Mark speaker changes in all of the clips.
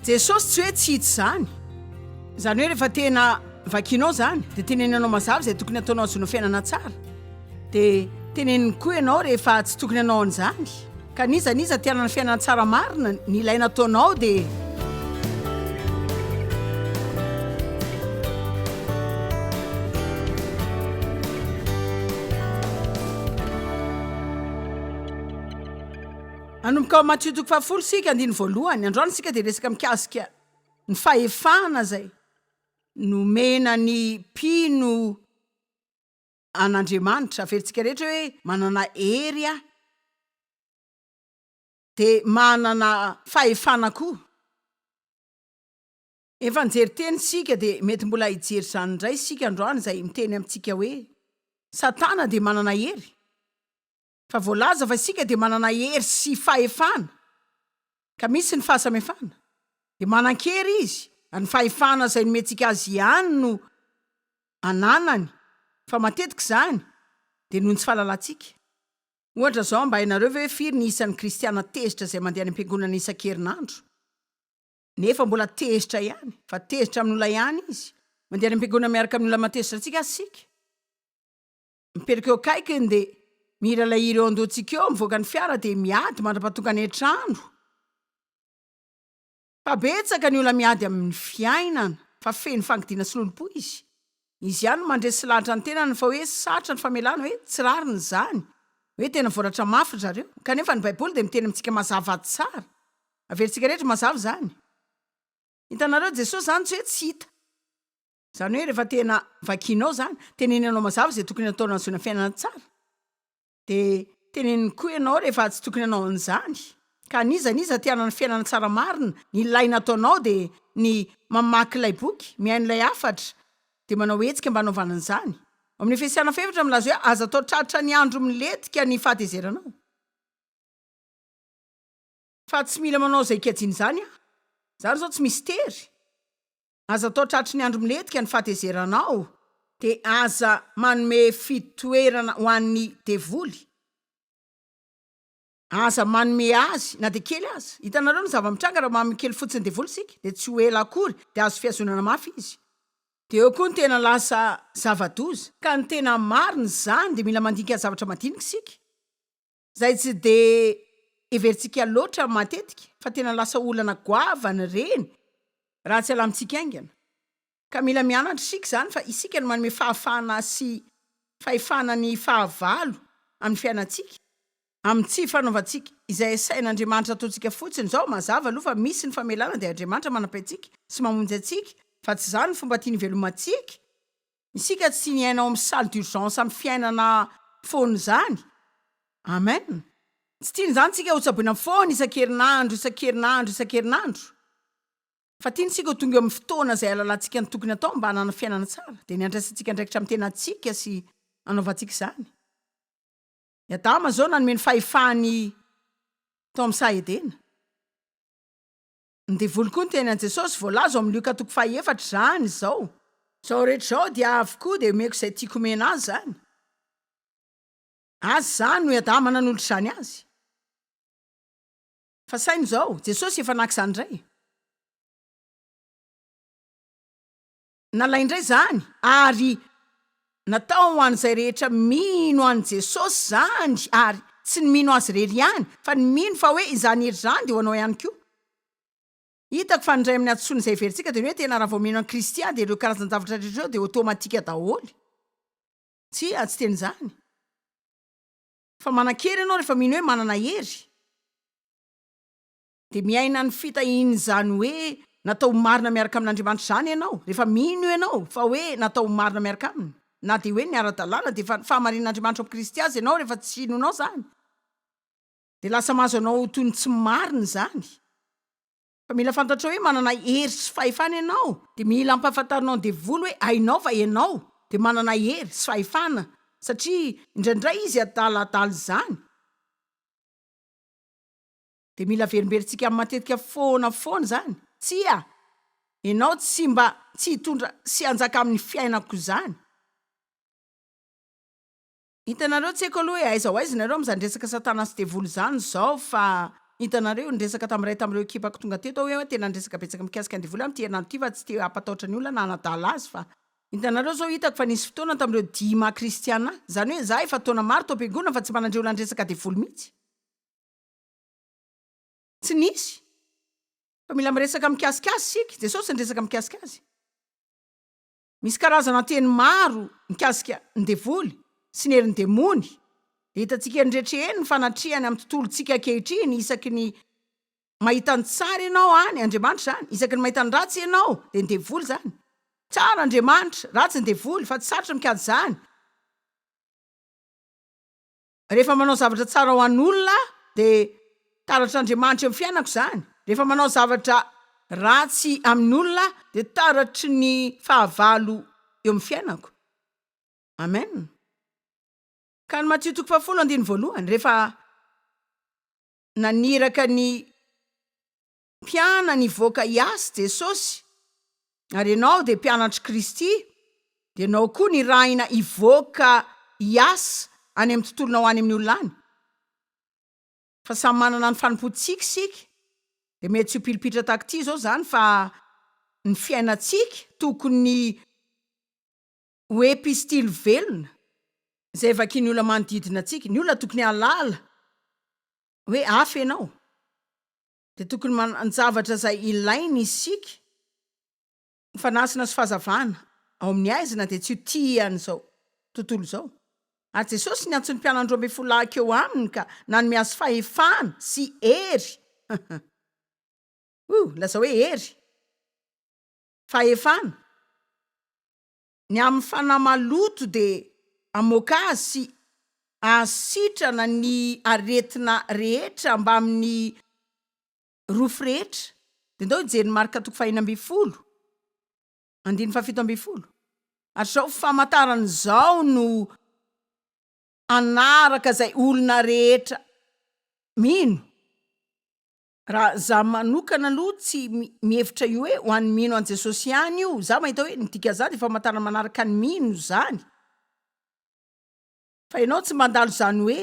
Speaker 1: Jesosy tsy hoe tsy hita izany. Izany hoe rehefa tena vakianao izany dia teneninanao mazava izay tokony hataonao hahazoana fiainana tsara. Dia teneniny koa ianao rehefa tsy tokony hanao an'izany. Ka n'iza n'iza te hanana fiainana tsara marina, ny ilaina ataonao dia. Hanomboka ao Matio toko fahafolo isika andininy voalohany. Androany isika dia resaka mikasika ny fahefana izay nomena ny mpino an'Andriamanitra. Averintsika rehetra hoe manana hery aho. dia manana fahefana koa. Efa nijery teny isika dia mety mbola hijery izany indray isika androany izay miteny amintsika hoe Satana dia manana hery. Efa voalaza fa isika dia manana hery sy fahefana ka misy ny fahasamihafana. Dia manan-kery izy ary ny fahefana izay nomentsika azy ihany no ananany fa matetika izany dia noho ny tsy fahalalantsika. Ohatra izao, mba hainareo ve firy ny isan'ny kristiana tezitra izay mandeha any am-piangonana isan-kerinandro? Nefa mbola tezitra ihany, fa tezitra amin'ny olona ihany izy. Mandeha any am-piangonana miaraka amin'ny olona mahatezitra antsika àry isika. Mipetraka eo akaikiny, dia mihira ilay hira eo an-dohantsika eo, mivoaka ny fiara dia miady mandra-pahatongany an-trano. Fa betsaka ny olona miady amin'ny fiainana fa feno fangidiana sy lolompo izy. Izy ihany no mandresy lahatra ny tenany fa hoe sarotra ny famelana hoe tsy rariny izany, hoe tena voaratra mafy ry zareo. Kanefa ny Baiboly dia miteny amintsika mazava tsara. Averintsika rehetra ho mazava izany. Hitanareo, Jesosy izany tsy hoe tsy hita. Izany hoe rehefa tena vakianao izany, tenenenao mazava izay tokony hatao nahazoana fiainana tsara. Dia teneniny koa ianao rehefa tsy tokony hanao an'izany. Ka an'iza an'iza te hanana fiainana tsara marina, ny ilaina ataonao dia ny mamaky ilay boky, mihaino ilay hafatra, dia manao hetsika mba hanaovana an'izany. Ao amin'ny Efesiana fahefatra milaza hoe aza atao tratra ny andro milentika ny fahatezeranao. Fa tsy mila manao izay ikajiana izany aho. Izany izao tsy mistery. Aza atao tratry ny andro milentika ny fahatezeranao, dia aza manome fitoerana ho an'ny devoly. Aza manome azy na dia kely aza. Hitanareo ny zava-mitranga raha manome kely fotsiny ny devoly isika, dia tsy ho ela akory dia azo fihazonana mafy izy. Dia eo koa ny tena lasa zava-doza. Ka ny tena marina izany dia mila mandinika ny zavatra madinika isika. izay tsy dia heverintsika loatra matetika fa tena lasa olana goavana ireny raha tsy alamintsika haingana. Ka mila mianatra isika izany fa isika no manome fahafahana sy fahefana ny fahavalo amin'ny fiainantsika, amin'ny tsy fanaovantsika izay asain'Andriamanitra ataontsika fotsiny izao, mazava aloha fa misy ny famelana dia Andriamanitra manampy antsika sy mamonjy antsika fa tsy izany ny fomba tiany hivelomantsika Isika tsy niaina ao amin'ny salle d'urgence amin'ny fiainana foana izany. Amen. Tsy tiany izany tsika hotsaboina foana isan-kerinandro, isan-kerinandro, isan-kerinandro. Fa tiany tsika ho tonga eo amin'ny fotoana izay halalantsika ny tokony hatao mba hanana fiainana tsara. Dia ny handraisantsika andraikitra amin'ny tenantsika sy hanaovantsika izany. I Adama izao nanome ny fahefany tao amin'ny saha Edena. Ny devoly koa niteny an'i Jesosy, voalaza ao amin'ny Lioka toko faha-efatra izany izao. Izao rehetra izao dia avy koa dia omeko izay tiako omena azy izany. Azy izany no i Adama nanolotra izany azy. Fa saino izao, Jesosy efa naka izany indray. Nalain-dry izany ary natao ho an'izay rehetra mino an'i Jesosy izany ary tsy ny mino azy irery ihany fa ny mino fa hoe izany hery izany dia ho anao ihany koa. Hitako fa ny iray amin'ny hadisoany izay heverintsika dia ny hoe tena raha vao mino an'i Kristy aho dia ireo karazan-javatra rehetra ireo dia ôtômatika daholo. Tsia, tsy tena izany. Fa manan-kery ianao rehefa mino hoe manana hery. Dia miaina ny fitahian'izany hoe natao ho marina miaraka amin'Andriamanitra izany ianao, rehefa mino ianao fa hoe natao ho marina miaraka Aminy. Na dia hoe ny ara-dalàna dia efa ny fahamarinan'Andriamanitra ao amin'ny Kristy aza ianao, rehefa tsy inonao izany, dia lasa mahazo anao ho toy ny tsy marina izany. Fa mila fantatrao hoe manana hery sy fahefana ianao. Dia mila ampahafantarinao ny devoly hoe hainao fa ianao dia manana hery sy fahefana, satria indraindray izy adala adala izany. Dia mila averimberintsika matetika foana foana izany? Tsia! Ianao tsy mba tsy hitondra sy hanjaka amin'ny fiainako izany. Hitanareo, tsy haiko aloha hoe aiza ho aiza ianareo amin'izany resaka Satana sy Devoly izany izao, fa hitanareo io, niresaka tamin'ny iray tamin'ireo ekipako tonga teto aho hoe tena niresaka betsaka mikasika an'i Devoly aho amin'ity herinandro ity fa tsy te hampatahotra ny olona na hanadala azy fa Hitanareo izao, hitako fa nisy fotoana tamin'ireo dimy maha kristiana ahy. Izany hoe izaho efa taona maro tao am-piangonana fa tsy mba nandre olona niresaka Devoly mihitsy. Tsy nisy. Fa mila miresaka mikasika Azy isika. Jesosy niresaka mikasika Azy. Misy karazana teny maro mikasika ny devoly sy ny herin'ny demony. Dia hitantsika eny rehetra eny ny fanatrehany amin'ny tontolontsika ankehitriny. Isaky ny mahita ny tsara ianao any, Andriamanitra izany. Isaky ny mahita ny ratsy ianao, dia ny devoly izany. Tsara Andriamanitra, ratsy ny devoly, fa tsy sarotra mikajy izany. Rehefa manao zavatra tsara ho an'olona aho, dia taratr'Andriamanitra eo amin'ny fiainako izany. Rehefa manao zavatra ratsy amin'olona aho, dia taratry ny fahavalo eo amin'ny fiainako. Amen. Ka ny Matio toko fahafolo andininy voalohany, rehefa naniraka ny Mpianany hivoaka hiasy Jesosy, ary ianao dia mpianatr'i Kristy, dia ianao koa nirahina hivoaka hiasa any amin'ny tontolonao any amin'ny olona any? Fa samy manana ny fanompoantsika isika, dia mety tsy ho pilipitra tahaka ity izao izany fa ny fiainantsika tokony ho epistily velona, izay vakian'ny olona manodidina antsika, ny olona tokony hahalala hoe hafa ianao. Dia tokony manan-javatra izay ilainy isika. Ny fanasana sy fahazavana ao amin'ny haizina dia tsy ho tia an'izao tontolo izao. Ary Jesosy niantso ny mpianany roa ambin'ny folo lahy hakeo Aminy ka nanome azy fahefana sy hery. Huh! Lazao hoe hery. Fahefana. Ny amin'ny fanahy maloto dia hamoaka azy sy hahasitrana ny aretina rehetra mbamin'ny rofy rehetra. Dia ndao hijery ny Marka toko fahenina ambin'ny folo, andininy fahafito ambin'ny folo. Ary izao famantarana izao no hanaraka izay olona rehetra mino. Raha za manokana aloha tsy mihevitra io hoe ho an'ny mino an'i Jesosy ihany io, za mahita hoe ny dikan'izany dia famantarana manaraka ny mino izany, fa ianao tsy mandalo izany hoe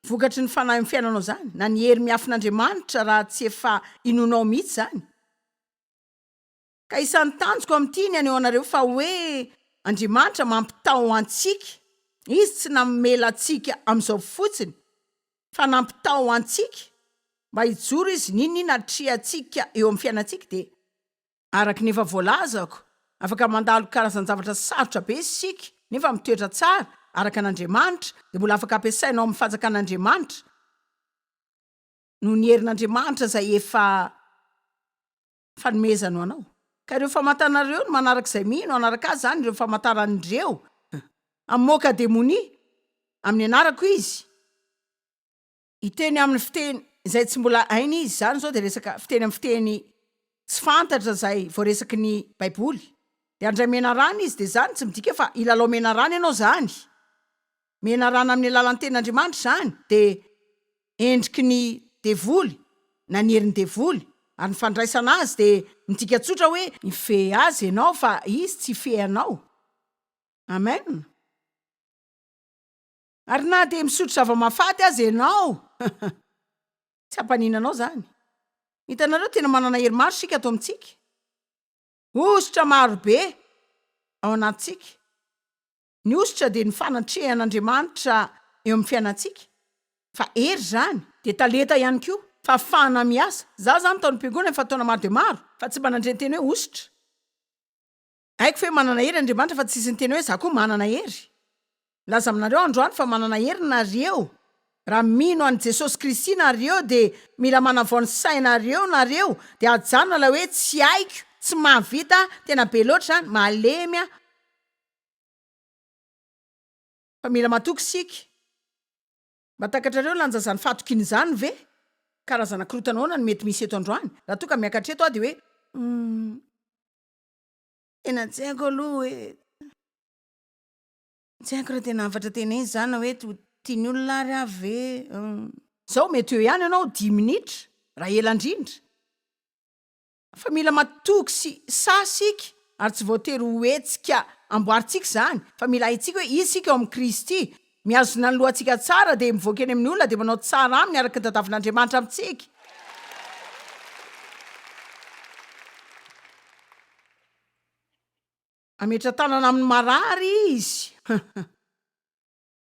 Speaker 1: vokatry ny fanahy amin'ny fiainanao izany, na ny hery miafin'Andriamanitra raha tsy efa inoanao mihitsy izany. Ka isan'ny tanjoko amin'ity ny haneho anareo fa hoe Andriamanitra mampitaho antsika, Izy tsy namela antsika amin'izao fotsiny fa nampitaho antsika mba hijoro Izy n'inon'inona atrehantsika eo amin'ny fiainantsika dia araka ny efa voalazako afaka mandalo karazan-javatra sarotra be isika nefa mitoetra tsara araka an'Andriamanitra dia mbola afaka ampiasaina ao amin'ny fanjakan'Andriamanitra noho ny herin'Andriamanitra izay efa fanomezana ho anao. Ka ireo famantana ireo no manaraka izay mino hanaraka azy izany ireo famantarany ireo. Hamoaka demonia amin'ny anarako izy. Hiteny amin'ny fiteny izay tsy mbola hainy izy. Izany izao dia resaka fiteny amin'ny fiteny tsy fantatra izay voaresaky ny Baiboly. Dia handray menarana izy. Dia izany tsy midika fa hilalao menarana ianao izany. menarana amin'ny alalan'ny Tenin'Andriamanitra izany dia endriky ny devoly na ny herin'ny devoly, ary ny fandraisana azy dia midika tsotra hoe, mifehy azy ianao fa izy tsy hifehy anao. Amen. Ary na dia misotro zava-mahafaty aza ianao, tsy hampanina anao izany. Hitanareo, tena manana hery maro isika ato amintsika. Hosotra maro be ao anatintsika. Ny hosotra dia ny fanatrehan'Andriamanitra eo amin'ny fiainantsika, fa hery izany. Dia talenta ihany koa, fahafahana miasa. Izaho izany tao am-piangonana efa taona maro dia maro, fa tsy mba nandre ny teny hoe hosotra. Haiko ve manana hery Andriamanitra fa tsisy niteny hoe izaho koa manana hery. Milaza aminareo aho androany fa manana hery nareo. Raha mino an'i Jesosy Kristy nareo dia mila manavao ny sainareo nareo dia ajanona ilay hoe tsy haiko, tsy mahavita, tena be loatra izany, malemy aho. Fa mila matoky isika. Mba takatrareo lanja izany fahatokiana izany ve? Karazana korotana ahoana no mety misy eto androany? Raha toa ka miakatra eto aho dia hoe, Humm. Tena tsy haiko aloha hoe. Tsy haiko raha tena hafatra tenay izany na hoe ho tian'ny olona ary aho ve? Humm. Izao mety eo ihany ianao dimy minitra, raha ela indrindra. fa mila matoky sy sahy isika ary tsy voatery ho hetsika amboarintsika izany fa mila haintsika hoe iza isika ao amin'i Kristy, mihazona ny lohantsika tsara dia mivoaka eny amin'ny olona dia manao tsara aminy araka ny tadiavin'Andriamanitra amintsika. Hametra-tanana amin'ny marary izy.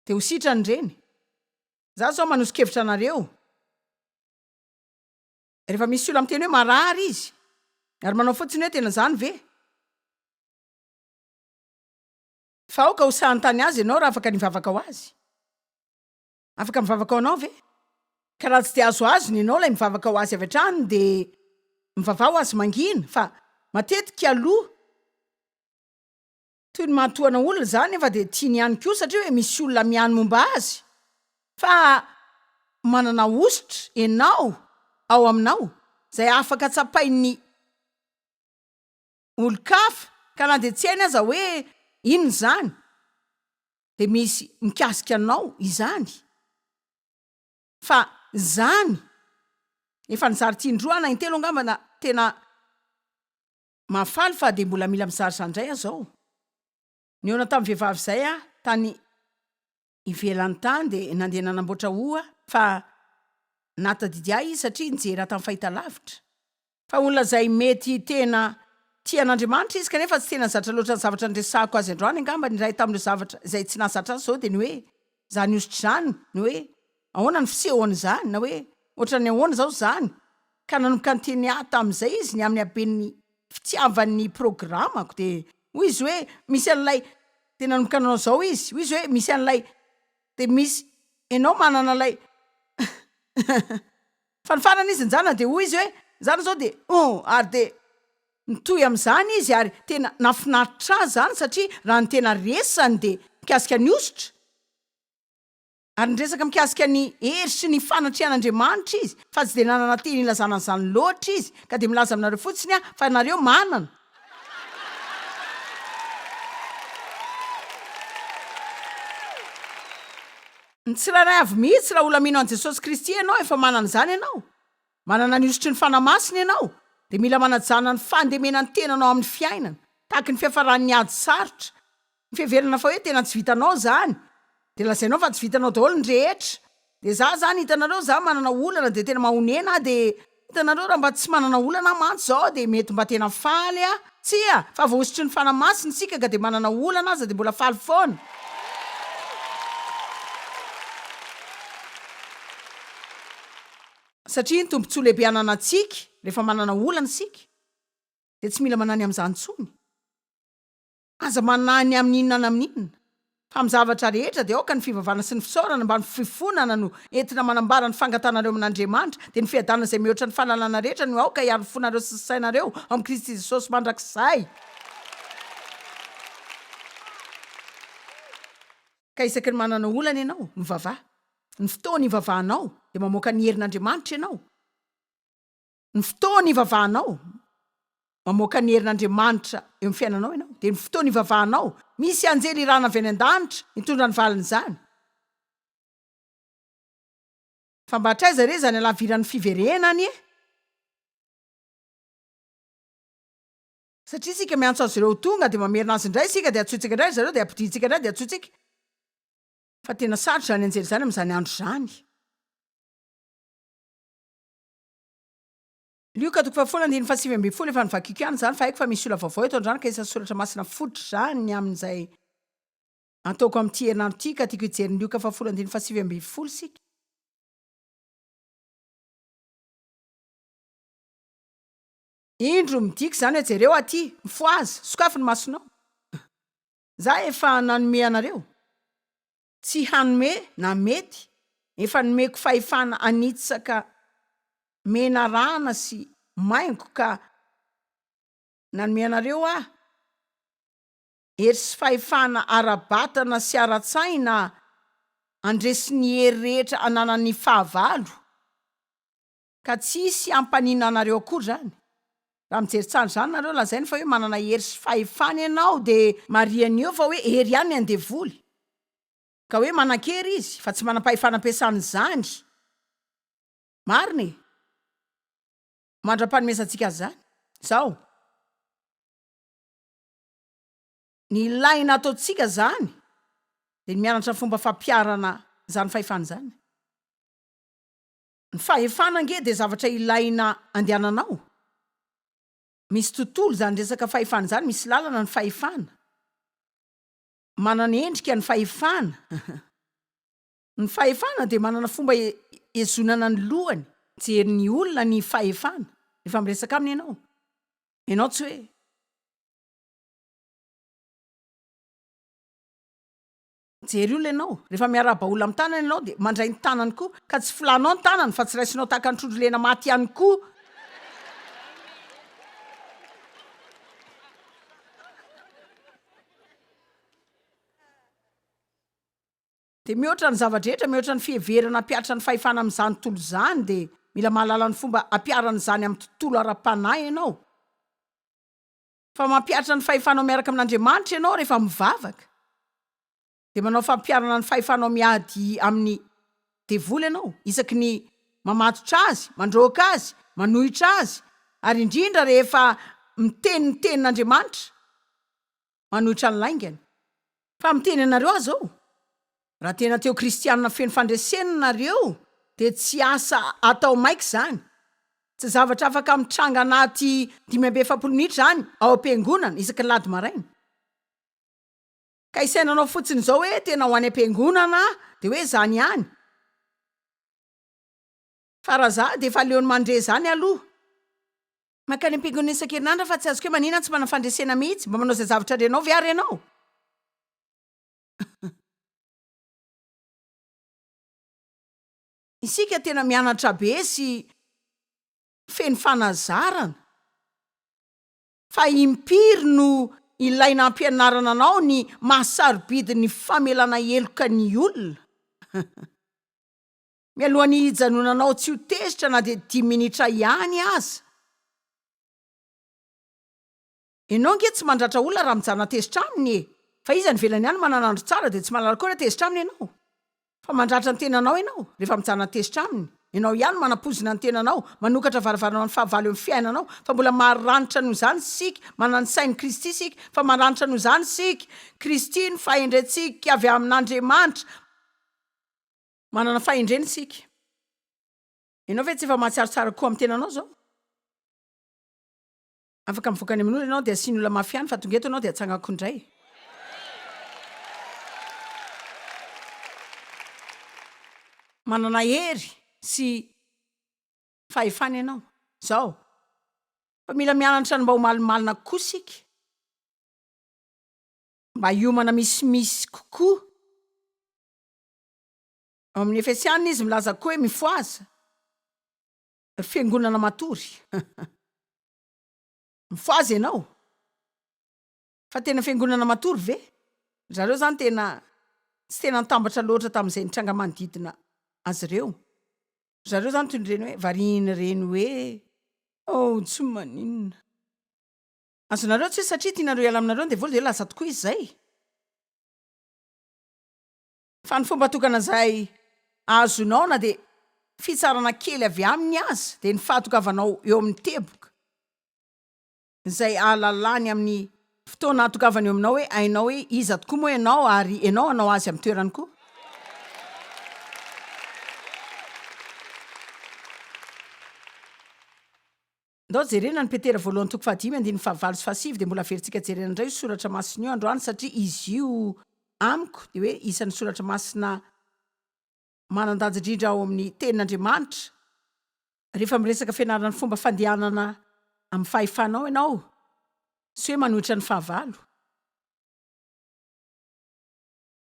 Speaker 1: Dia ho sitrany ireny. Izaho izao manoso-kevitra anareo. Rehefa misy olona miteny hoe marary izy ary manao fotsiny hoe tena izany ve? Fa aoka ho sahantany azy ianao raha afaka ny hivavaka ho azy. Afaka mivavaka ho anao ve? Ka raha tsy dia azo azony ianao ilay mivavaka ho azy avy hatrany dia mivavaha ho azy mangina fa matetika aloha Toy ny manotoana olona izany nefa dia tiany ihany koa satria hoe misy olona miany momba azy fa manana hosotra enao ao aminao izay afaka tsapain'ny olon-kafa ka na dia tsy hainy aza hoe inona izany dia misy mikasika anao izany fa izany efa nizary tin-droa na intelo angamba na tena Mahafaly fa dia mbola mila mizara izany indray aho izao. Nihaona tamin'ny vehivavy izay aho tany ivelany tany dia nandeha nanamboatra hoho aho fa nahatadidy ahy izy satria nijery ahy tamin'ny fahitalavitra. Fa olona izay mety tena tia an'Andriamanitra izy kanefa tsy tena zatra loatra ny zavatra niresahako azy androany. Angamba ny iray tamin'ireo zavatra izay tsy nahazatra azy izao dia ny hoe. Izany hosotra izany na hoe ahoana ny fisehony izany na hoe ohatran'ny ahoana izao izany ka nanomboka niteny ahy tamin'izay izy ny amin'ny haben'ny fitiavany ny programako dia hoy izy hoe misy an'ilay dia nanomboka nanao izao izy hoy izy hoe misy an'ilay dia misy ianao manana ilay Fa ny farany izy nijanona dia hoy izy hoe, Izany izao dia oh! Ary dia nitohy amin'izany izy ary tena nahafinaritra azy izany satria raha ny tena resany dia mikasika ny hosotra ary niresaka mikasika ny hery sy ny fanatrihan'Andriamanitra izy fa tsy dia nanana teny hilazana an'izany loatra izy ka dia milaza aminareo fotsiny aho fa nareo manana Ny tsirairay avy mihitsy raha ola mino an'i Jesosy Kristy ianao efa manana izany ianao, manana ny hosotry ny Fanahy Masina ianao dia mila manajana ny fandemena ny tenanao amin'ny fiainana tahaky ny fiafaran'ny ady sarotra, ny fiheverana fa hoe tena tsy vitanao izany dia lazainao fa tsy vitanao daholo ny rehetra dia za zany hitanareo za manana olana dia tena mahonena aho dia Hitanareo raha mba tsy manana olana mantsy zao dia mety mba tena faly a! Tsia! Fa voahosotry ny Fanahy Masina isika ka dia manana olana aza dia mbola faly foana. Satria ny tombontsoa lehibe ananantsika rehefa manana olana isika dia tsy mila manany amin'izany intsony. Aza manahy ny amin' inona na amin' inona, fa amin' ny zavatra rehetra dia aoka ny fivavahana sy ny fisaorana mba ny fifonana no entina manambara ny fangatanareo amin' Andriamanitra, dia ny fiadanana izay mihoatra ny fahalalana rehetra no aoka hiaro ny fonareo sy ny sainareo ao amin' i Kristy Jesosy mandrakizay. Ka isaky ny manana olana ianao, mivavaha. Ny fotoan' ivavahanao dia mamoaka ny herin' Andriamanitra ianao. Ny fotoana ivavahanao, mamoaka ny herin' Andriamanitra eo amin'ny fiainanao ianao, dia ny fotoana ivavahanao, misy anjely irana avy any an-danitra mitondra ny valin'izany. Fa mba hatraiza re izany halaviran'ny fiverenany e? Satria isika miantso azy ireo ho tonga, dia mamerina azy indray isika, dia antsointsika indray ry zareo, dia ampodiantsika indray, dia antsointsika. Fa tena sarotra izany anjely izany amin'izany andro izany. Lioka toko fahafolo andininy fahasivy ambin'ny folo Efa novakiako ihany izany fa haiko fa misy olona vaovao eto an-drano ka isan'ny soratra masina fototra izany ny amin'izay antoako amin'ity herinandro ity ka tiako hijery ny Lioka fahafolo andininy fahasivy ambin'ny folo isika. Indro, midika izany hoe jereo aty, mifohaza, sokafy ny masonao. Izaho efa nanome anareo. tsy hanome na mety efa nomeko fahefana hanitsaka menarana sy maingo ka nanome anareo aho hery sy fahefana ara-batana sy ara-tsaina handresy ny hery rehetra ananan'ny fahavalo Ka tsy hisy hampaninona anareo akory izany. Raha mijery tsara izany nareo, lazaina fa hoe manana hery sy fahefana ianao dia marihany eo fa hoe hery ihany ny andevoly. Ka hoe manan-kery izy fa tsy manam-pahefana ampiasana izany. Marina e! Mandra-panomezantsika azy izany, izao. Ny ilaina ataontsika izany dia ny mianatra ny fomba fampiharana izany fahefana izany. Ny fahefana ange dia zavatra ilaina andehanana ao. Misy tontolo izany resaka fahefana izany, misy lalana ny fahefana. Manana endrika ny fahefana. Ny fahefana dia manana fomba hihezonana ny lohany, mijery ny olona ny fahefana rehefa miresaka aminy ianao. Ianao tsy hoe. Jery olona ianao, rehefa miarahaba olona amin'ny tanana ianao dia mandray ny tanany koa, ka tsy folanao ny tanany fa tsy raisinao tahaka ny trondro lena maty ihany koa. Dia mihoatra ny zava-drehetra, mihoatra ny fiheverana hampihatra ny fahefana amin'izany tontolo izany dia mila mahalala ny fomba hampiharana izany amin'ny tontolo ara-panahy ianao. Fa mampihatra ny fahefanao miaraka amin'Andriamanitra ianao rehefa mivavaka, dia manao fampiharana ny fahefanao miady amin'ny devoly ianao, isaky ny mamatotra azy, mandroaka azy, manohitra azy, ary indrindra rehefa miteny ny tenin'Andriamanitra manohitra ny laingany. Fa miteny anareo aza aho, raha tena teo kristianina feno fandresena nareo dia tsy asa atao maika izany, tsy zavatra afaka mitranga anaty dimy amby efapolo minitra izany ao am-piangonana isaky ny lahady maraina. Ka isainanao fotsiny izao hoe tena ho any am-piangonana aho dia hoe izany ihany. Fa raha za dia efa aleony mandre izany aloha. Mankany am-piangonana isan-kerinandro aho fa tsy azoko hoe maninona tsy manana fandresena mihitsy. Mba manao izay zavatra renao ve ary ianao? Isika tena mianatra be sy feno fanazarana. Fa impiry no ilaina hampianarana anao ny maha sarobidy ny famelana heloka ny olona? Mialohan'ny hijanonanao tsy ho tezitra na dia dimy minitra ihany aza. Enao ange tsy mandratra olona raha mijanona tezitra aminy e! Fa iza any ivelany any manana andro tsara dia tsy manala koa raha tezitra aminy enao? Fa mandratra ny tenanao enao rehefa mijanona tezitra aminy. Enao ihany manapoizina ny tenanao, manokatra varavarana amin'ny fahavalo eo amin'ny fiainanao, fa mbola maranitra noho izany isika, manana ny sain'i Kristy isika, fa maranitra noho izany isika, Kristy no fahendrentsika avy amin'Andriamanitra, Manana fahendrena isika. Ianao ve tsy efa mahatsiaro tsara kokoa amin'ny tenanao izao? Afaka mivoaka any amin'olona ianao dia asiany olona mafy ihany fa tonga eto ianao dia atsangako indray. Manana hery sy fahefana ianao. Izao. Fa mila mianatra ny mba ho malimalina kokoa isika. Mba hiomana misimisy kokoa. Ao amin'ny Efesiana izy milaza koa hoe mifohaza, ry fiangonana matory. Mifohaza ianao. Fa tena fiangonana matory ve? Ry zareo izany tena tsy tena nitambatra loatra tamin'izay nitranga manodidina azy ireo. Ry zareo izany toy ireny hoe varian'ireny hoe oh tsy maninona. Azonareo tsy hoe satria tianareo hiala aminareo ny devoly dia hoe lasa tokoa izy izay. Fa ny fomba tokana izay azonao na dia fitsarana kely avy aminy aza dia ny fahatogavanao eo amin'ny teboka izay ahalalany amin'ny fotoana ahatogavany eo aminao hoe hainao hoe iza tokoa moa ianao ary ianao hanao azy amin'ny toerany koa. Ndao jerena ny Petera voalohany toko fahadimy andininy fahavalo sy fahasivy dia mbola averintsika jerena indray io soratra masina io androany satria izy io amiko dia hoe isan'ny soratra masina manan-danja indrindra ao amin'ny tenin'Andriamanitra. Rehefa miresaka fianarana ny fomba fandehanana amin'ny fahefanao ianao sy hoe manohitra ny fahavalo.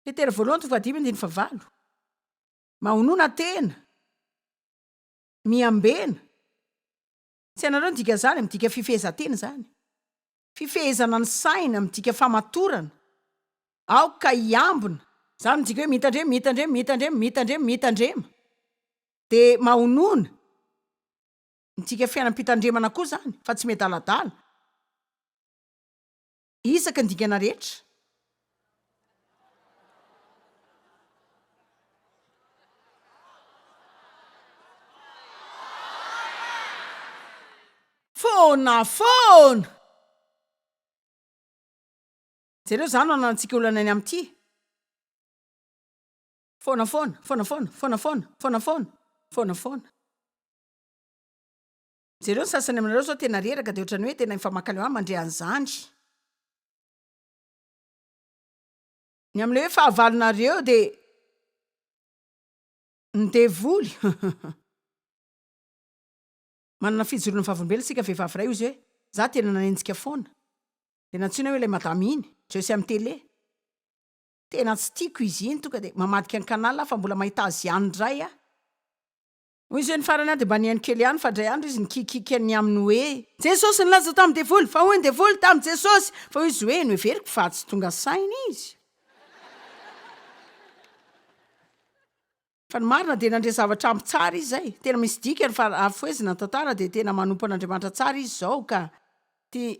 Speaker 1: Petera voalohany toko fahadimy andininy fahavalo. Mahonona tena. Miambena. Tsy hainareo ny dikan'izany? Midika fifehezan-tena izany. Fifehezana ny saina, midika famatorana. Aoka hiambina. Izany midika hoe mitandrema, mitandrema, mitandrema, mitandrema, mitandrema. Dia mahonona. Midika fiainam-pitandremana koa izany, fa tsy miadaladala. Isaky ny dingana rehetra. Foana foana! Jereo izany no ananantsika olana any amin'ity. Foana foana, foana foana, foana foana, foana foana, foana foana. Jereo ny sasany aminareo zao tena reraka de otrany hoe tena efa mankaleo an mandre an'zany. Ny amin'ilay hoe fahavalonareo dia ny devoly manana fijoroana vavolombelona isika vehivavy iray hoy izy hoe za tena nanenjika foana de nantsoina hoe ilay madama iny jereo sy am tele tena tsy tiako izy iny tonga de mamadika ny canal aho fa mbola mahita azy ihany indray aho Hoy Jeune farany aho dia mba nihaino kely ihany fa indray andro izy nikiakiaka ny aminy hoe. Jesosy nilaza tamin'ny devoly fa hoy ny devoly tamin'i Jesosy fa hoy izy hoe noheveriko fa tsy tonga saina izy. Fa ny marina dia nandre zavatra ampy tsara izy izay. Tena misy dikany fa raha fohezina ny tantara dia tena manompo an'Andriamanitra tsara izy izao ka tia.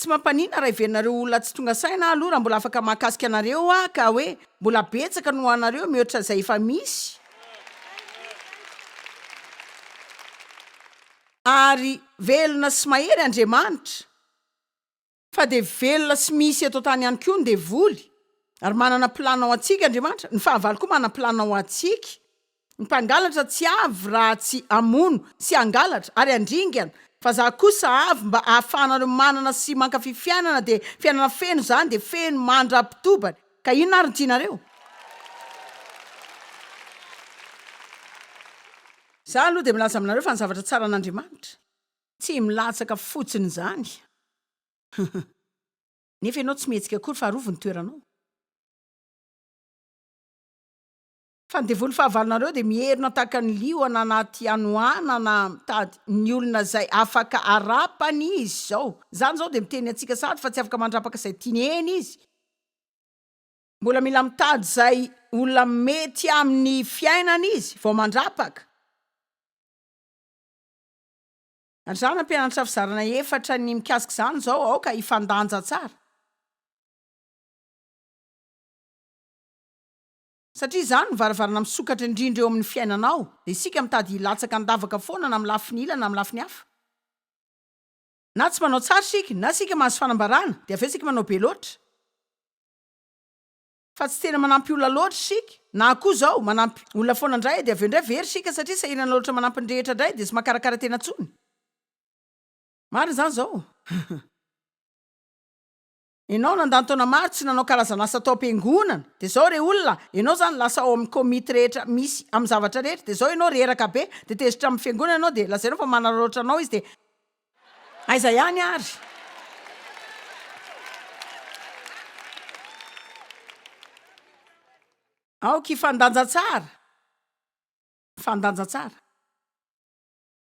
Speaker 1: Tsy mampaninona raha heverinareo olona tsy tonga saina aho aloha raha mbola afaka mahakasika anareo aho ka hoe mbola betsaka ny ho anareo mihoatra izay efa misy ary velona sy mahery Andriamanitra fa dia velona sy misy eto an-tany ihany koa ny devoly ary manana planina ho antsika Andriamanitra, ny fahavalo koa manana planina ho antsika. Ny mpangalatra tsy avy raha tsy hamono sy hangalatra ary handringana, fa za kosa avy mba hahafahanareo manana sy mankafy fiainana dia fiainana feno izany dia feno mandrapitobany ka inona ary ny tianareo? Za aloha dia milaza aminareo fa ny zavatra tsara an'Andriamanitra. Tsy milatsaka fotsiny izany nefa ianao tsy mihetsika akory fa arovy ny toeranao. Fa ny devoly fahavalonareo dia mierona tahaka ny liona anaty hanoanana mitady ny olona izay afaka arapany izy izao. Izany izao dia miteny antsika sahady fa tsy afaka mandrapaka izay tiany eny izy. Mbola mila mitady izay olona mety amin'ny fiainany izy vao mandrapaka. Ary izaho nampianatra fizarana efatra ny mikasika izany izao, aoka hifandanja tsara. Satria izany no varavarana misokatra indrindra eo amin'ny fiainanao, dia isika mitady hilatsaka an-davaka foana na amin'ny lafiny ila na amin'ny lafiny hafa. Na tsy manao tsara isika, na isika mahazo fanambarana, dia avy eo isika manao be loatra, fa tsy tena manampy olona loatra isika, na koa izao, manampy olona foana indray, dia avy eo indray very isika satria sahirana loatra manampy ny rehetra indray, dia tsy mahakarakara tena intsony. Marina izany izao. Enao nandany taona maro tsy nanao karazan'asa tao am-piangonana, dia zao re olona, enao zany lasa ao amin'ny komity rehetra misy amin'ny zavatra rehetra, dia zao enao reraka be, dia tezitra amin'ny fiangonana enao, dia lazainao fa manararaotra anao izy, dia. Aiza ihany ary? Aoka hifandanja tsara. Mifandanja tsara.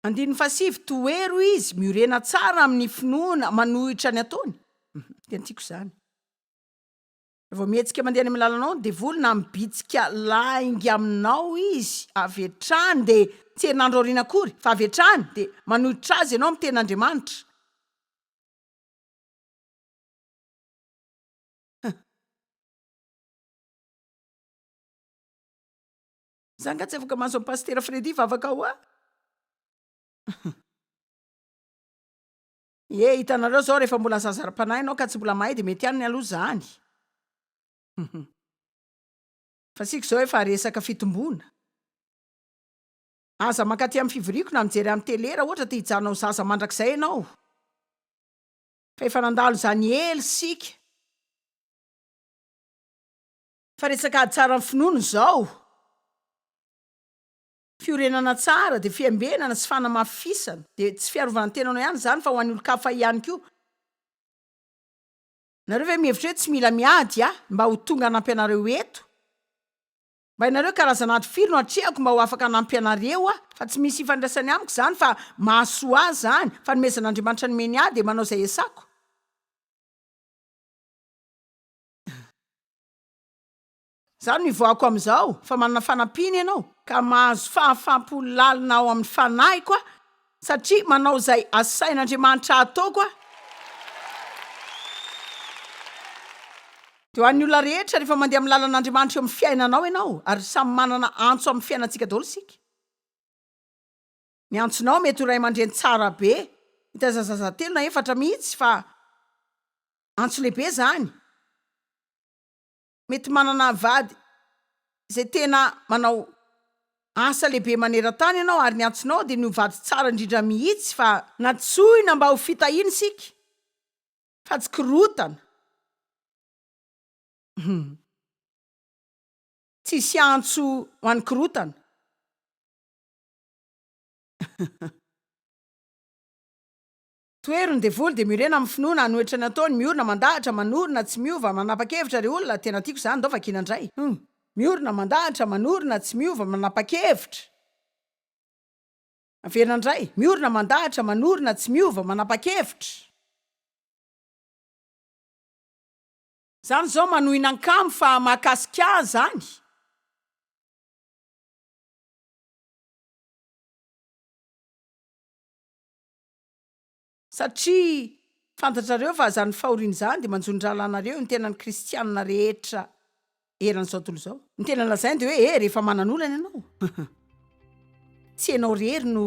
Speaker 1: Andininy fahasivy, Tohero izy miorena tsara amin'ny finoana manohitra ny ataony. Tena tiako izany. Vao mihetsika mandeha any amin'ny lalanao ny devoly na mibitsika lainga aminao izy avy hatrany dia tsy herinandro aoriana akory fa avy hatrany dia manohitra azy ianao miteny Andriamanitra Za nga tsy afaka mahazo an'i Pasitera Freddy hivavaka hoa? Ie, hitanareo zao rehefa mbola zaza ara-panahy ianao ka tsy mbola mahay dia mety ihany ny aloha izany. Fa isika izao efa resaka fitomboana. Aza mankaty amin'ny fivoriako na mijery amin'ny tele raha ohatra te hijanona ho zaza mandrakizay ianao. Fa efa nandalo izany ela isika. Fa resaka ady tsara ny finoana izao. Fiorenana tsara dia fiambenana sy fanamafisana. Dia tsy fiarovan-tenanao ihany izany fa ho an'ny olon-kafa ihany koa. Nareo ve mihevitra hoe tsy mila miady aho mba ho tonga hanampy anareo eto? Mba hainareo karazana ady firy no atrehako mba ho afaka hanampy anareo aho? Fa tsy misy ifandraisany amiko izany fa mahasoa ahy izany. Fanomezan'Andriamanitra nomeny ahy dia manao izay esako. Izany no ivoahako amin'izao, fa manana fanampiana ianao, ka mahazo fahafam-po lalina ao amin'ny fanahiko aho, satria manao izay asain'Andriamanitra hataoko aho. Dia ho an'ny olona rehetra, rehefa mandeha amin'ny lalan'Andriamanitra eo amin'ny fiainanao ianao, ary samy manana antso amin'ny fiainantsika daholo isika, Ny antsonao mety ho ray aman-dreny tsara be, mitaiza zaza telo na efatra mihitsy fa antso lehibe izany. Mety manana vady izay tena manao asa lehibe maneran-tany ianao ary ny antsonao dia ny ho vady tsara indrindra mihitsy fa. Nantsoina mba ho fitahiana isika fa tsy korotana. Hum. Tsisy antso ho an'ny korotana. Tohero ny devoly de miorena amin'ny finoana hanohitra ny ataony miorina mandahatra manorina tsy miova manapakevitra ry olona tena tiako zany ndao vakiana ndray humm miorina mandahatra manorina tsy miova manapakevitra averina ndray miorina mandahatra manorina tsy miova manapakevitra. Zany zao manohina an-kamo fa mahakasika ahy zany. Satria fantatrareo fa izany fahoriana izany dia manjo ny rahalahinareo, ny tenan'ny kristiana rehetra eran'izao tontolo izao. Ny tena lazainy dia hoe, He, rehefa manana olana ianao, tsy ianao irery no.